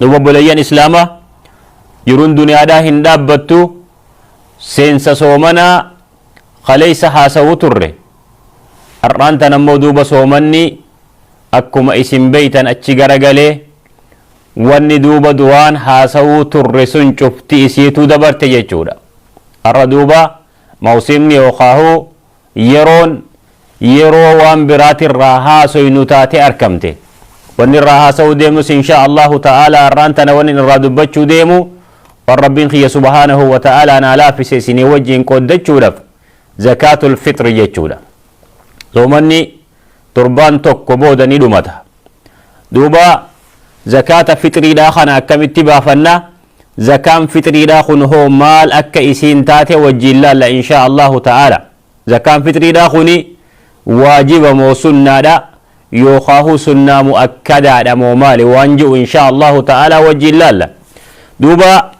Duuba obboleeyyan Islaamaa jiruun duniyaadhaa hin dhaabbattu seensa soomanaa kaleessa haasawuu turre. Har'aan tan ammoo duuba soomanni akkuma isin beeytan achi garagalee wanni duuba duraan haasawuu turre sun cufti isiituu dabarte jechuudha. Har'a duuba mawsiimni yookaahuu yeroon yeroo waan biraatirraa haasoynu taate arkamte. Wanni irraa haasa'uu deemus inshaa Allaahu ta'aalaa har'aan tana wannin irraa dubbachuu deemu waan Rabbiin kiyya subhaanahu wa ta'aalaa naa laafise isinii wajjiin qooddachuudhaf zakaatul fixri jechuudha. Soomanni torbaan tokko booda ni dhumata. Duuba zakaata fixriidhaa kana akkamitti baafanna? Zakaan fixriidhaa kun hoo maal akka isiin taate wajjiin laalla inshaa Allahu ta'aala. Zakaan fixriidhaa kuni waajiba moo sunnaadha? Yookaahu sunnaa mu'akkadaadha moo maali waan ji'u inshaa Allahu ta'aala wajjiin laalla. Duuba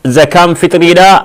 zakaan fixriidhaa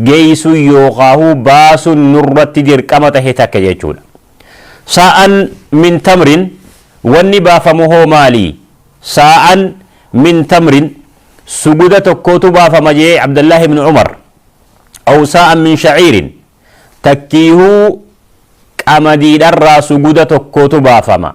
geessuun yookaahu baasun nurratti dirqama tahe takka jechuudha. Saa'an min tamrin wanni baafamu hoo maali? Saa'an min tamrin suguda tokkootu baafama jee Abdallaah ibn Umar. Aw saa'an min sha'iirin takkiihuu qamadiidharraa suguda tokkootu baafama.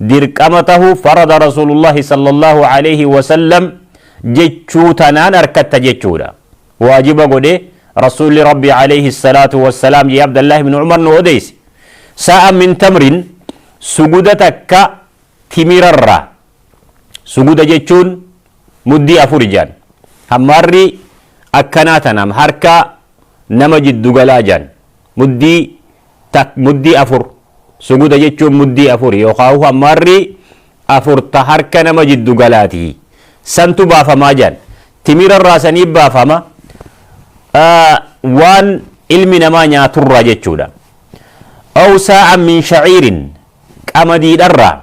dirqama tahu farada Rasuulullaahi sallallaahu aleeyhi wasallam jechuu tanaan arkatta jechuudha. Waajiba godhe Rasuulli Rabbii aleeyhi salaatu wassalaam jee Abdallaahi ibnu Umar nu odeeyse. Saa'an min tamrin suguda takka timirarraa. Suguda jechuun muddii afur jaan. Hammaarri akkanaa tanaam harka nama jiddu galaa jedhan. Muddii tak, muddii afur. Suguda jechuun muddii afuri yookaahu hammaarri afur ta harka nama jiddu galaati. Santu baafamaa jedhan. Timirarraa sanii baafama waan ilmi namaa nyaaturraa jechuudha. Aw saa'an min shaciirin qamadiidharraa.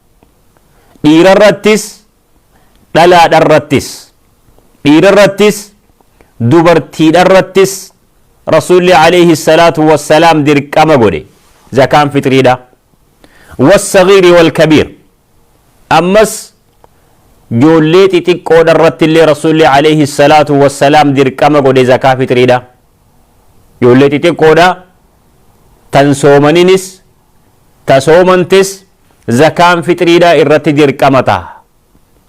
Dhiira irrattis dhalaadha irrattis dhiira irrattis dubartiidha irrattis Rasuulli alayhi salaatu wassalaam dirqama godhe zakaan fitriidha. Wassagiiri wal kabiir ammas joollee xixiqqoodha irratti illee Rasuulli alayhi salaatu wassalaam dirqama godhe zakaa fitriidha. Joollee xixiqqoodha tan soomaninis ta soomantes Zakaan fixriidhaa irratti dirqama taha.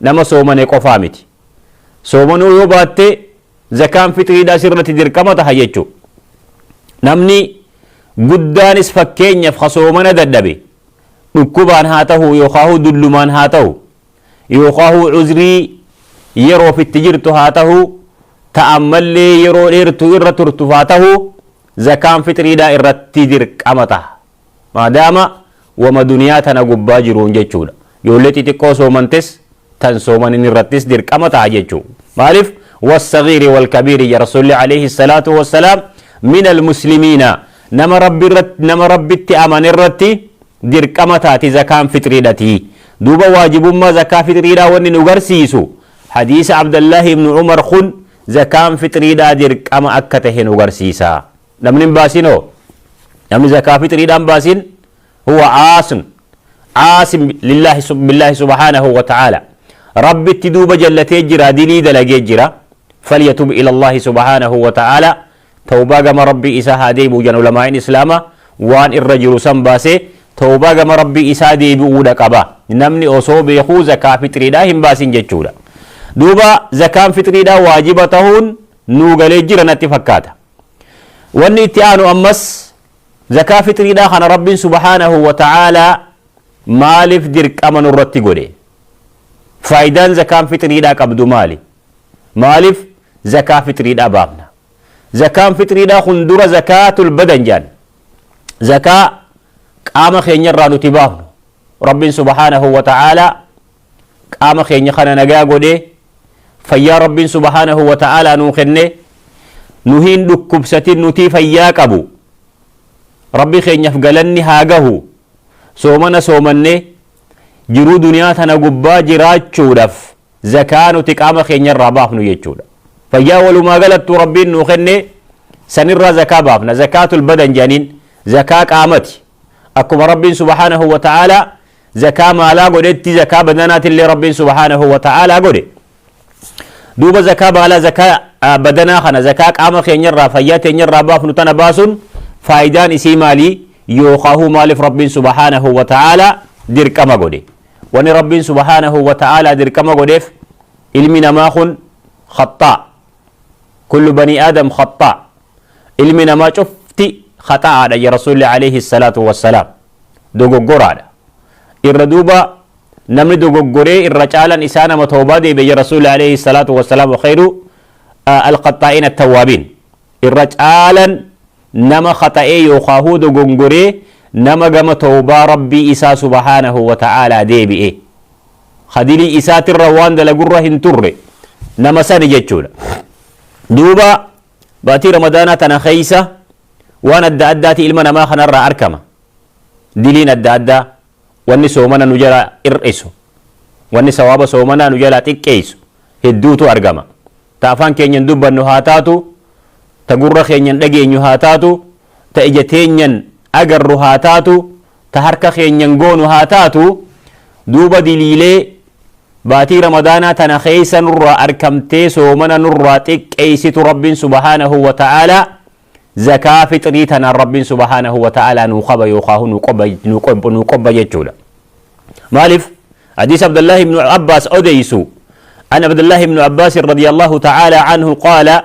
Nama soomane qofaa miti. Soomanuu yoo baatte zakaan fixriidhaa sirratti dirqama taha jechuu. Namni guddaanis fakkeenyaf ha soomana dadhabe dhukkubaan haa tahu yookaahuu dullumaan haa tahu yookaahuu cuzrii yeroof itti jirtu haa tahu ta ammallee yeroo dheertu irra turtu haa tahu zakaan fixriidhaa irratti dirqama taha. Maadaama wama duniyaa tana gubbaa jiruun jechuudha. Ijoollee xixiqqoo soomantes tan soomanin irrattis dirqama ta'a jechuu. Maalif? Wassagiiri walkabiiri ja Rasuulli alayhi salaatu wassalaam minal muslimiina nama Rabbi irratti nama Rabbitti amane irratti dirqama taati zakaan fixriidhati. Duuba waajibummaa zakaa fixriidhaa wanni nu garsiisu hadiisa Abdallahi ibnu Umar kun zakaan fixriidhaa dirqama akka tahe nu garsiisa. Namni hin baasiin hoo? Namni zakaa fixriidhaan baasiin huwa aasun aasin lillaahi sub- billaahi subhaanahu wa ta'aala rabbitti duuba jallatee jira dilii dalagee jira falyatub ilallaahi subhaanahu wa ta'aala tawbaa gama rabbii isaa haa deebi'u jedhan ulamaa'in islaama waan irra jiru san baasee tawbaa gama rabbii isaa deebi'uudha qaba namni osoo beekuu zakaa fixriidhaa hin baasin jechuudha duuba zakaan fixriidhaa waajiba tahuun nuu galee jira natti fakkaata Wanni itti aanu ammas zakaa fitriidhaa kana Rabbiin subhaanahu wa ta'aalaa maaliif dirqama nurratti godhe? Faayidaan zakaan fitriidhaa qabdu maali? Maaliif zakaa fitriidhaa baafna? Zakaan fitriidhaa kun dura zakaatul badan jedhan. Zakaa qaama keenyarraa nuti baafnu. Rabbiin subhaanahu wa ta'aalaa qaama keenya kana nagaa godhee fayyaa rabbiin subhaanahu wa ta'aalaa nuu kenne nu hin dhukkubsatin nutii fayyaa qabu rabbi keenyaf galanni haa gahu soomana soomannee jiruu duniyaa tana gubbaa jiraachuudhaf zakaa nuti qaama keenya irraa baafnu jechuudha fayyaa walumaa galattuu rabbiin nuu kenne sanirraa zakaa baafna zakaatul badan jedhaniin zakaa qaamati akkuma rabbiin subhaanahu wa ta'aalaa zakaa maalaa godhetti zakaa badanaatille rabbiin subhaanahu wa ta'aalaa godhe duuba zakaa maalaa zakaa ah, badanaa kana zakaa qaama keenyarraa fayyaa teenyarraa baafnu tana baasuun faayidaan isii maalii yookaahuu maaliif rabbiin subhaanahu wa ta'aalaa dirqama godhe wani rabbiin subhaanahu wa ta'aalaa dirqama godheef ilmi namaa kun khaxxaa Kullu banii Aadam khaxxaa. Ilmi namaa cufti khaxa'aadha ja Rasuulli alayhi salaatu wassalaam. Dogoggoraadha. Irra duuba namni dogoggoree irra caalan isaa nama tawbaa deebi'e ja Rasuulli alayhi salaatu wassalaam wa khayru al-khaxxaa'iin at-tawwaabiin. Irra caalan nama khaxa'ee yookaahuu dogongoree nama gama tawbaa Rabbii isaa subhaanahu wa ta'aalaa deebi'e. khadirii isaatirra waan dalagurra hin turre nama sani jechuudha duuba baatii ramadaanaa tana keeysa waan adda addaati ilma namaa kanarraa arkama diliin adda addaa wanni soomana nu jala ir'isu wanni sawaaba soomanaa nu jalaa xiqqeeysu hedduutu argama ta afaan keenyan dubbannu haa taatu ta gurra keenyan dhageenyu haa taatu ta ija teenyan agarru haa taatu ta harka keenyan goonu haa taatu, duuba diliilee baatii ramadaanaa tana keessa nurraa arkamtee soomana nurraa xiqqeeysitu Rabbiin subhaanahu wa ta'aalaa zakaa fixrii tanaan Rabbiin subhaanahu wa ta'aalaa nuu kaba yookaahu nuu qobba nuu qobba nuu qobba jechuudha. Maalif? Hadiis Abdallaahi ibnu Abbaas odeeysu. An Abdallaahi ibnu Abbaas radiyallaahu ta'aalaa anhu qaala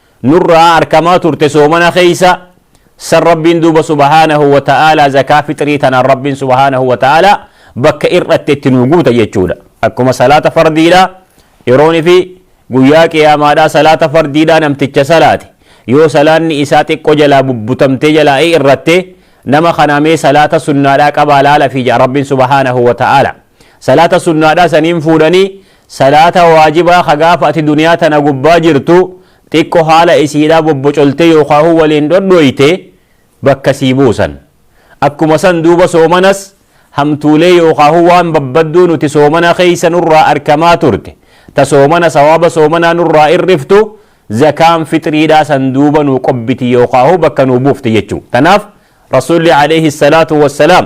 nurraa arkamaa turte soomana keessa san rabbiin duuba subhaanahu wa ta'aalaa zakaa fixrii tanaan rabbiin subhaanahu wa ta'aalaa bakka ir'atte itti nuu guuta jechuudha akkuma salaata fardiidha yeroon fi guyyaa qiyaamaadhaa salaata fardiidhaa namticha salaate yoo salaanni isaa xiqqoo jalaa bubbutamtee jalaa ir'atte nama kanaa mee salaata sunnaadhaa qabaa laala fi ja'a rabbiin subhaanahu wa ta'aalaa salaata sunnaadhaa saniin fuudhanii Salaata waajibaa ka gaafa ati duniyaa tana gubbaa jirtu xiqqo haala isiidhaa bobbocoltee yookaahuu waliin dhodhooyte bakka sii buusan. Akkuma san duuba soomanas hamtuulee yookaahuu waan babbadduu nuti soomana keessa nurraa arkamaa turte ta soomana sawaaba soomanaa nurraa irriftu zakaan fixriidhaa san duuba nuu qobbiti yookaahuu bakka nuu buufti jechuu. Tanaaf Rasuulli aleeyhi salaatu wassalaam.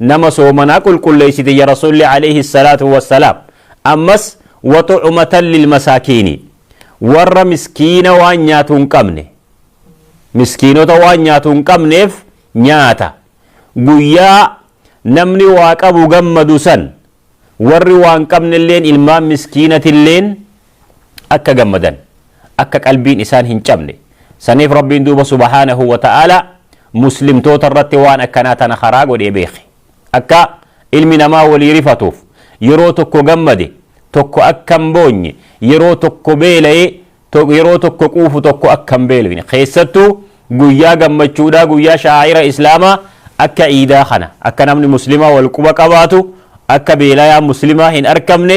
nama soomanaa qulqulleeysite ya rasuulli aleyhi salaatu wassalaam ammas wa tucumatan lilmasaakiini warra miskiina waan nyaatu hin qabne miskiinota waan nyaatu hin qabneef nyaata guyyaa namni waa qabu gammadu san warri waan qabnelleen ilmaan miskiinatilleen akka gammadan akka qalbiin isaan hin cabne saniif rabbiin duuba subhaanahu wa ta'aalaa muslimtoota irratti waan akkanaa tana karaa godhee beekhe akka ilmi namaa walii rifatuuf yeroo tokko gammade tokko akka hin boonye yeroo tokko beelaye yeroo tokko quufu tokko akka hin beelofne keessattuu guyyaa gammachuudhaa guyyaa shaa'ira islaamaa akka iidaa kana akka namni muslimaa wal quba qabaatu akka beelayaa muslimaa hin arkamne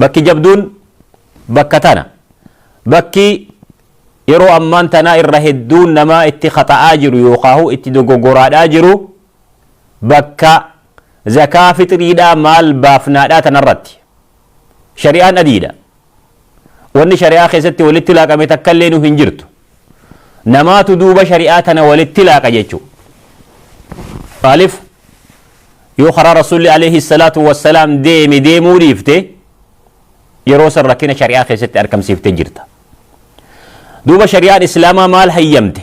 Bakki jabduun bakka tana. Bakki yeroo ammaan tanaa irra hedduun namaa itti khata'aa jiru yookaahu itti dogoggoraadhaa jiru bakka zakaa fixriidhaa maal baafnaadhaa tanarratti. Shari'aan adiidha. Wanni shari'aa keessatti walitti laaqame takkalleenu hin jirtu. namaatu duuba shari'aa tana walitti laaqa jechuu maalif yoo karaa rasuulli alayhi salaatu wassalaam deeme deemuu dhiifte yeroo san rakkina shari'aa keessatti argamsiifte jirta duuba shari'aan islaamaa maal hayyamte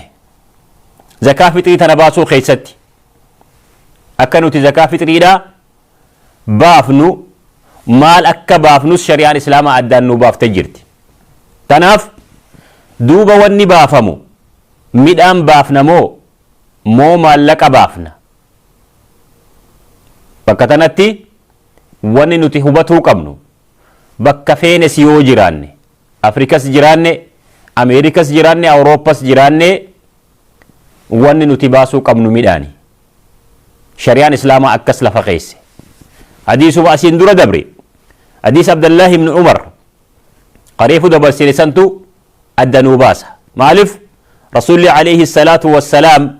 zakaa fixrii tana baasuu keessatti akka nuti zakaa fixriidhaa baafnu maal akka baafnus shari'aan islaamaa addaan nuu baaftee jirti. Tanaaf duuba wanni baafamu midhaan baafna moo moo maallaqa baafna? Bakka tanatti wanni nuti hubatuu qabnu bakka feenes yoo jiraanne, Afrikas jiraanne, Ameerikas jiraanne, Awurooppas jiraanne wanni nuti baasuu qabnu midhaani. Shariyaan Islaamaa akkas lafa keesse. Hadiisuma asiin dura dabre, hadiisa Abdallaahi ibn Umar ka reefu dabarsine santu adda nuu baasa. Maalif? Rasuulli alayhi salaatu wassalaam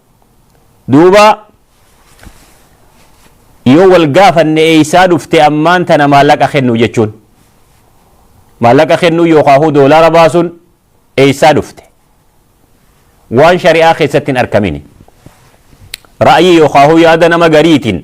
duuba yoo wal gaafanne eeysaa dhufte ammaan tana maallaqa kennu jechuun maallaqa kennuu yookaahuu doolaara baasuun eeysaa dhufte waan shari'aa keessatti hin arkamini ra'ayii yookaahuu yaada nama gariitiin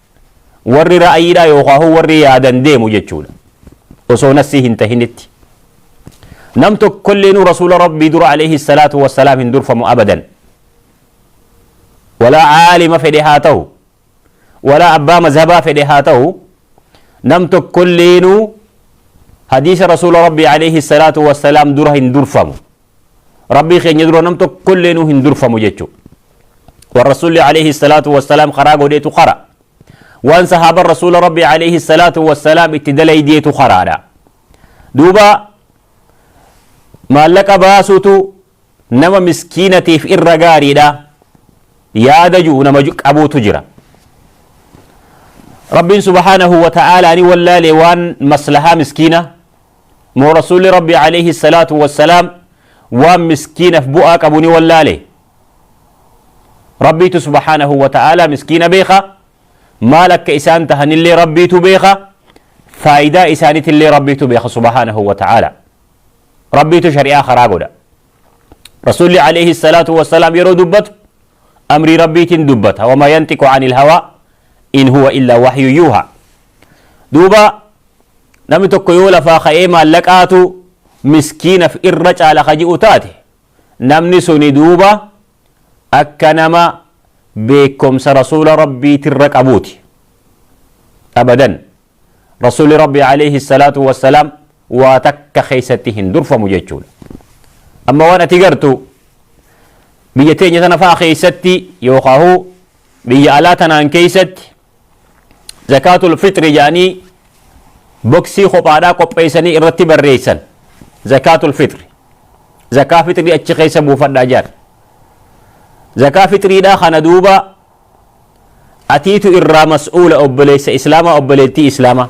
warri ra'ayiidhaa yookaan warri yaadan deemu jechuudha osoo nassii hin tahinitti nam tokkollee nu rasuula rabbii dura alayhi salaatu wassalaam hin durfamu abadan walaa aalima fedhe haa ta'u walaa abbaa mazhabaa fedhe haa ta'u nam tokkollee nu hadiisa rasuula rabbii alayhi salaatu wassalaam dura hin durfamu rabbii keenya dura nam tokkollee nu hin durfamu jechuu wan rasuulli alayhi salaatu wassalaam karaa godheetu kara waan sahaaban rasuula rabbii alayhi salaatu wassalaam itti dalaydeetu karaadha duuba maallaqa baasuutu nama miskiinatiif irra gaariidha yaada ji'u nama qabuutu jira rabbiin subhaanahu wa ta'aalaani wallaalee waan maslahaa miskiina Moo Rasuulli Rabbii Aleeyhi Salaatu Wassalaam waan miskiinaf bu'aa qabu ni wallaale? Rabbiitu Subhaanahu Wa Ta'aalaa miskiina beeka, maal akka isaan tahanillee Rabbiitu beeka, faayidaa isaanitillee Rabbiitu beeka Subhaanahu Wa Ta'aalaa. Rabbiitu shari'aa karaa godha. Rasuulli Aleeyhi Salaatu Wassalaam yeroo dubbatu amrii Rabbiitiin dubbata. Wamaa yantiqu anil hawaa in huwa illaa wahyu yuuhaa. Duuba Namni tokko yoo lafaa ka'ee maallaqaatu miskiinaf irra caala ka ji'u taate namni suni duuba akka nama beekkomsa rasuula rabbiitirra qabuuti. Abadan. Rasuulli rabbii alayhi salaatu wassalaam waa takka keessatti hin durfamu jechuudha. Amma waan ati gartu biyya teenya tana fa'a keessatti yookaan biyya alaa tanaan keessatti zakaatul fixri jedhanii boksii kophaadhaa qopheessanii irratti barreessan zakaatul fixri zakaa fixrii achi keessa buufadhaa jedhan zakaa fixriidhaa kana duuba atiitu irraa mas'uula obboleessa islaamaa obboleettii islaamaa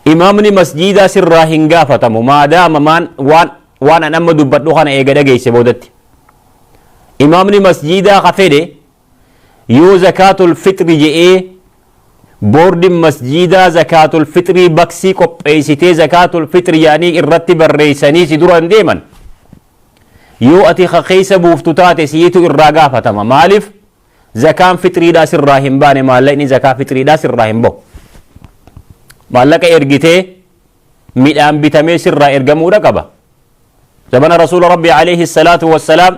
imaamni masjiidaa sirraa hin gaafatamu maadaama maan waan waan an amma dubbadhu kana eega dhageesse boodatti imaamni masjiidaa ka fedhe Yoo zakaatul fixri je'ee boordin masjiidaa zakaatul fixrii baksii qopheeysitee zakaatul fixri yaanii irratti barreeysanii si duran deeman yoo ati ka keeysa buuftu taate siitu irraa gaafatama maalif zakaan fixriidhaa sirraa hin baane maallaqni zakaa fixriidhaa sirraa hin bahu maallaqa ergitee midhaan bitamee sirraa ergamuudha qaba zabana rasuula rabbii alayhi salaatu wassalaam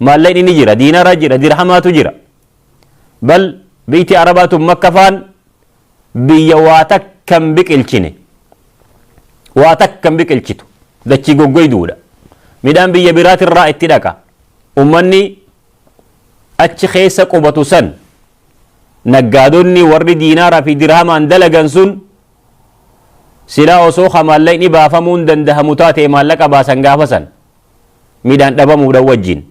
Maallaqni ni jira, diinara jira, dirhamaatu jira. Bal biyti Arabaa tun Makka faan biyya waa takka hin biqilchine. Waa takka hin biqilchitu. Dachii goggoyduudha. Midhaan biyya biraatirraa itti dhaqa. Ummanni achi keessa qubatu san naggaadonni warri diinaaraa fi dirhamaan dalagan sun silaa osoo ka maallaqni baafamuun dandahamu taate maallaqa baasan gaafa san midhaan dhabamuudhan wajjin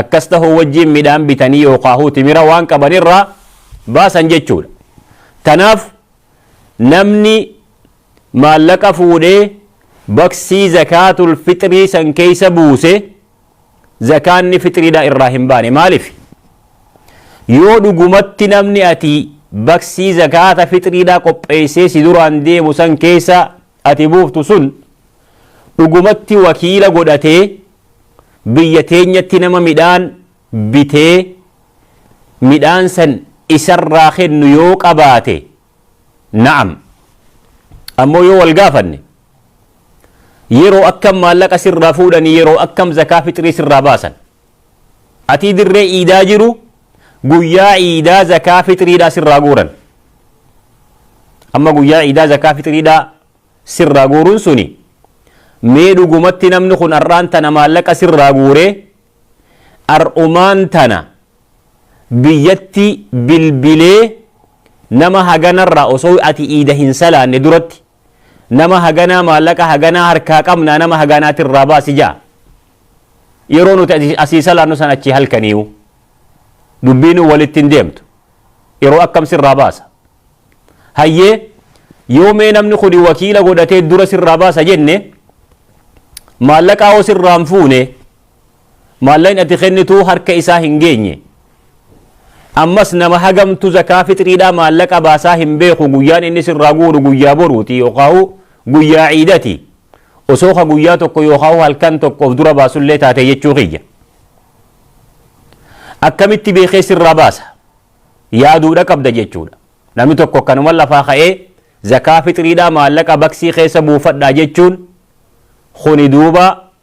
akkas tahuu wajjin midhaan bitanii yookaahuu timira waan qaban irraa baasan jechuudha. Tanaaf namni maallaqa fuudhee baksii zakaatul fixrii san keeysa buuse zakaanni fixriidhaa irraa hin baane maaliif? Yoo dhugumatti namni ati baksii zakaata fixriidhaa qopheeysee si duraan deemu san keeysa ati buuftu sun dhugumatti wakiila godhatee biyya teenyatti nama midhaan bitee midhaan san isarraa kennu yoo qabaate na'am ammoo yoo wal gaafanne yeroo akkam maallaqa sirraa fuudhanii yeroo akkam zakaa fixrii sirraa baasan atii dirree iidaa jiru guyyaa iidaa zakaa fixriidhaa sirraa guuran amma guyyaa iidaa zakaa fixriidhaa sirraa guuruun suni mee dhugumatti namni kun har'aan tana maallaqa sirraa guuree har'umaan tana biyyatti bilbilee nama haganarraa osoo ati iida hin salaanne duratti nama haganaa maallaqa haganaa harkaa qabnaa nama hagaanaati irraa baasi jaa yeroo nuti asii salaannu san achii halkaniiyu dubbiinuu walitti hin deemtu yeroo akkam sirraa baasa hayyee yoo mee namni kuni wakiila godhatee dura sirraa baasa jenne maallaqaa hoo sirraan fuune Maallaqni ati kennitu harka isaa hin geenye. Ammas nama hagamtu zakaa fixriidhaa maallaqa baasaa hin beeku guyyaan inni sirraa guuru guyyaa boruuti yookaahu guyyaa ciidati. Osoo ka guyyaa tokko yookaahu halkan tokko of dura baasullee taate jechuu kiyya. Akkamitti beekee sirraa baasa? Yaaduudha qabda jechuudha. Namni tokko akkanuma lafaa ka'ee zakaa fixriidhaa maallaqa baksii keessa buufadhaa jechuun kuni duuba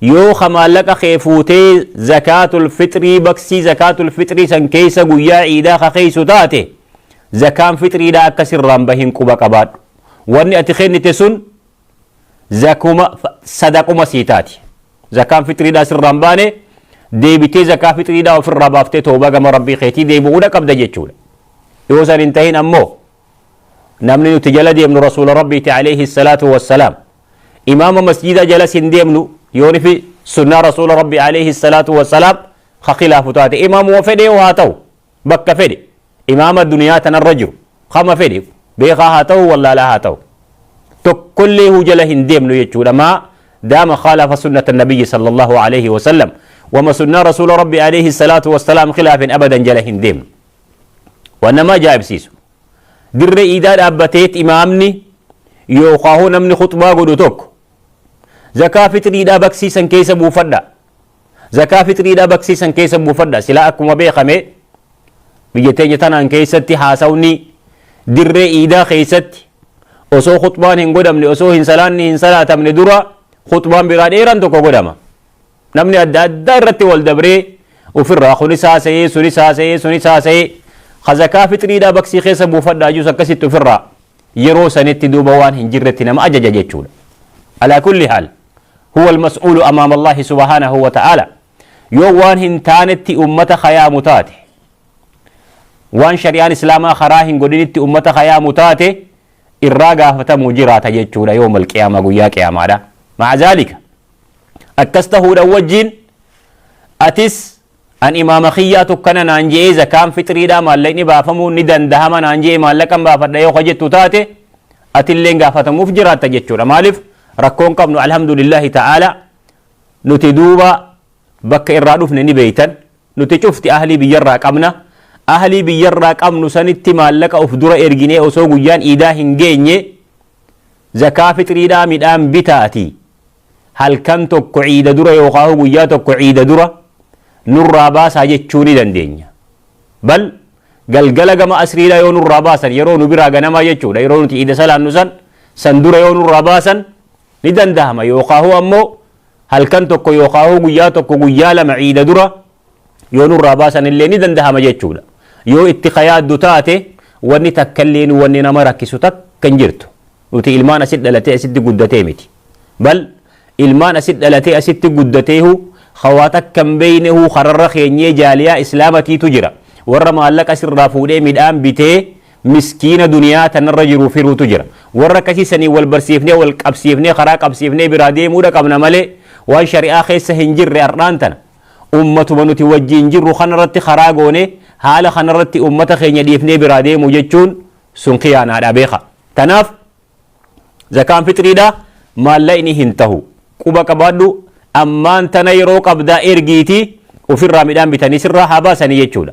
Yoo ka maallaqa kee fuutee zakaatul fixrii baksii zakaatul fixrii san keessa guyyaa iidaa ka keessu taate zakaan fixriidhaa akka sirraan bahin quba qabaadhu. Wanni ati kennite sun zakuma sadaquma sii taati. Zakaan fixriidhaa sirraan baane deebitee zakaa fixriidhaa ofirraa baaftee toobaa gama rabbii keetii deebi'uudha qabda jechuudha. Yoo san hin tahin ammoo namni nuti jala deemnu rasuula rabbiiti alayhi salaatu wassalaam imaama masjiida jalas hin deemnu yoonifi sunnaa rasuula rabbi alayhi salaatu wassalaam ka khilaafu taate imaamuma fedhe yoo haa ta'u bakka fedhe imaama duniyaa tanarra jiru kama fedhe beekaa haa ta'u wallaalaa haa ta'u tokkollee huu jala hin deemnu jechuudha maa daama khaalafa sunnata nabiyyi sallallahu alayhi wasallam wama sunnaa rasuula rabbi alayhi salaatu wassalaam khilaafin abadan jala hin deemnu waan nama ajaa'ibsiisu dirree iidaa dhaabbateet imaamni yookaan hoo namni khuxbaa godhu tokko zakaa fixriidhaa baksiisan keessa buufadha zakaa fixriidhaa baksiisan keessa buufadha silaa akkuma beekame biyya teenya tanaan keessatti haasawni dirree iidaa keessatti osoo khuxbaan hin godhamne osoo hin salaanni hin salaatamne dura khuxbaan biraa dheeraan tokko godhama Namni adda addaa irratti wal dabree ofirraa kunis haasa'ee sunis haasa'ee sunis haasa'ee ka zakaa fixriidhaa baksii keessa buufadhaa jus akkasitti ofirraa yeroo sanitti duuba waan hin jirretti nama ajaja jechuudha. Alaa kulli haal huwa almas'uulu amaama Allahi subhaanahu wa ta'aala yoo waan hin taanetti ummata kayaamu taate waan shari'aan islaamaa karaa hin godhinitti ummata kayaamu taate irraa gaafatamuu jiraata jechuudha yoo mal qiyaama guyyaa qiyaamaadha. Ma'a zaalika Akkas tahuudhan wajjiin atis an imaama khiyyaatu akkana naan je'ee zakaan fixriidhaa maallaqni baafamuun ni dandahama naan je'e maallaqan baafadha yoo ka jettu taate atilleen gaafatamuuf jiraatta jechuudha. Maaliif rakkoon qabnu alhamdulillahi ta'aala nuti duuba bakka irraa dhufne ni beeytan nuti cufti ahlii biyyarraa qabna ahlii biyyarraa qabnu sanitti maallaqa of dura erginee osoo guyyaan iidaa hin geenye zakaa fixriidhaa midhaan bitaati halkan tokko ciida dura yookaan guyyaa tokko ciida dura nurraa baasaa jechuu ni dandeenya. Bal galgala gama asriidhaa yoo nurraa baasan yeroo nu biraa ganamaa jechuudha yeroo nuti ciida salaannu san san dura yoo nurraa baasan ni dandahama yookaan ammoo halkan tokko yookaan guyyaa tokko guyyaa lama ciida dura yoo nurraa baasanillee ni dandahama jechuudha. Yoo itti ka yaaddu taate wanni takkalleen wanni nama rakkisu takka hin jirtu. Nuti ilmaan asitti dhalatee asitti guddatee miti. Bal ilmaan asitti dhalatee asitti guddateehu ka waa takka hin beeynehu kararra keenyee jaaliyaa islaamatiitu jira. Warra maallaqa sirraa fuudhee midhaan bitee miskiina duniyaa tanarra jiru firuutu jira. Warra akkasii saniin wal barsiifnee wal qabsiifnee karaa qabsiifnee biraa deemuudha qabna malee waan shari'aa keessa hin jirre har'aan tana Ummatuma nuti wajjiin jirru kanarratti karaa goonee haala kanarratti ummata keenya dhiifnee biraa deemuu jechuun sun khiyaanaadha beeka. Tanaaf zakaan fixriidha maallaqni hin tahu. Quba qabaadhu ammaan tana yeroo qabdaa ergiitii ofirraa midhaan bitanii sirraa haa baasanii jechuudha.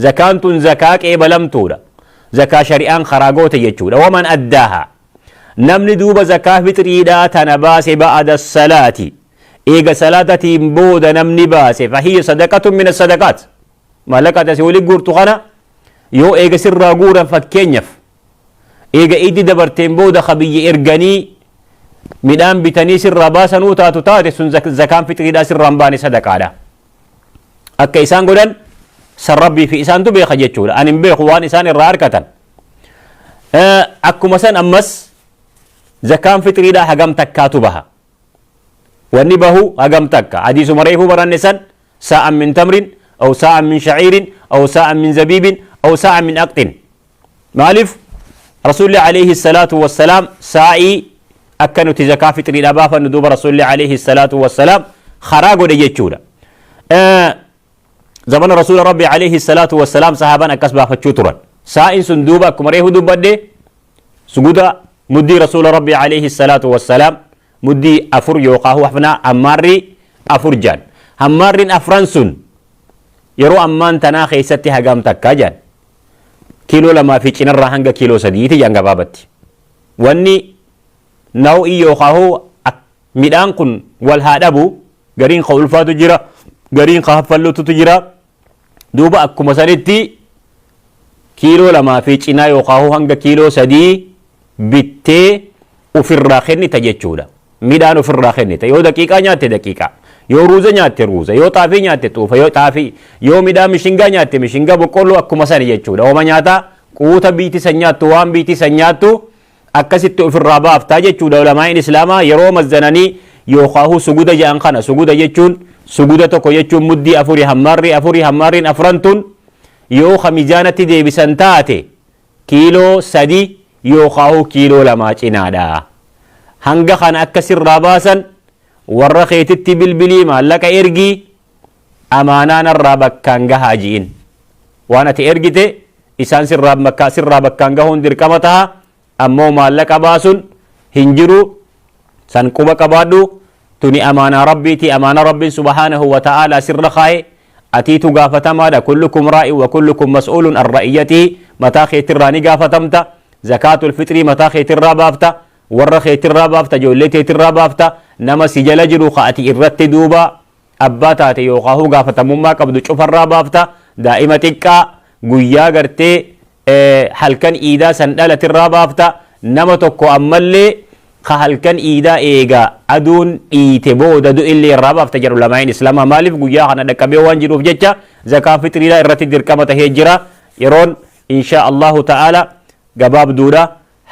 Zakaan tun zakaa qeebalamtuudha. Zakaa shari'aan karaa goote jechuudha. Waman addaaha. Namni duuba zakaa fixriidhaa tana baase ba'ada salaati. Eega salaatatiin booda namni baase fahiyya sadaqatun mina sadaqaat. Maallaqa tasi wali guurtu kana yoo eega sirraa guuran fakkeenyaf eega iddi dabarteen booda ka biyya erganii midhaan bitanii sirraa baasanuu taatu taate sun zakaan fixriidhaa sirraan baane sadaqaadha. akka isaan godhan san rabbii fi isaantu beeka jechuudha an hin beeku waan isaan irraa arkatan akkuma san ammas zakaan fixriidha hagam takkaatu baha wanni bahu hagam takka hadiisuma reefuu baranne san saa'an min tamrin aw saa'an min shaciirin aw saa'an min zabiibin aw saa'an min aqxin Maaliif Rasuulli alayhi salaatu wassalaam saa'ii akka nuti zakaa fixriidha baafannu duuba Rasuulli alayhi salaatu wassalaam karaa godhe jechuudha. Zamana Rasuula Rabbi alayhi salaatu wassalaam sahaaban akkas baafachuu turan. Saa'in sun duuba akkuma reefu dubbadde suguda muddii Rasuula Rabbi alayhi salaatu wassalaam muddii afur yookaan hafnaa ammaarri afur jaan. Hammaarriin afran sun yeroo ammaan tanaa keessatti hagam takka jaan. kiiloo lamaa fi cinarraa hanga kiiloo sadiiti jaan gabaabatti. Wanni naw'ii yookaan hoo midhaan kun wal haa dhabu gariin ka ulfaatu jira gariin ka haffallututu jira duuba akkuma sanitti kiiloo lamaa fi cinaa yookaan hoo hanga kiiloo sadii bittee ufirraa kennita jechuudha. Midhaan ufirraa kennita. Yoo daqiiqaa nyaatte daqiiqaa. Yoo ruuza nyaatte ruuza. Yoo xaafii nyaatte xuufa. Yoo xaafii. Yoo midhaan mishingaa nyaatte mishingaa boqqolloo akkuma sani jechuudha. Homa nyaata quuta biitii san nyaattu waan biitii san nyaattu akkasitti ufirraa baaftaa jechuudha ulamaa'iin islaamaa yeroo mazzananii yookaahuu suguda ja'an kana suguda jechuun suguda tokko jechuun muddii afurii hammaarrii afurii hammaarriin afran tun yoo ka mizaanatti deebisan taate kiiloo sadii yookaahuu kiiloo lamaa cinaadha. Hanga kana akka sirraa baasan warra keetitti bilbilii maallaqa ergii amaanaa narraa bakkaan gahaa ji'in. Waan ati ergite isaan sirraa bakkaan gahuun dirqama taha ammoo maallaqa baasun hin jiru san quba qabaadhu tuni amaanaa rabbiiti amaana rabbin subhaanahu wa ta'aalaa sirra kaaye Atiitu gaafatamaadha kullukum raa'in wa kullukum mas'uulun an ra'iyyatihi mataa keetirraa ni gaafatamta zakaatul fixrii mataa keetirraa baafta warra keetirraa baafta ijoollee teetirraa baafta nama si jala jiru ka ati irratti duuba abbaa taate yookaahuu gaafatamummaa qabdu cufarraa baafta daa'ima xiqqaa guyyaa gartee halkan iidaa san dhalati irraa baafta nama tokko ammallee ka halkan iidaa eega aduun dhiite booda du'illee irraa baafta jedhu lamaa'in islaamaa maaliif guyyaa kana dhaqqabee waan jedhuuf jecha zakaa fitriidhaa irratti dirqama tahee jira yeroon inshaa allahu ta'aala gabaabduudha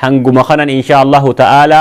hanguma kanan inshaa allahu ta'aala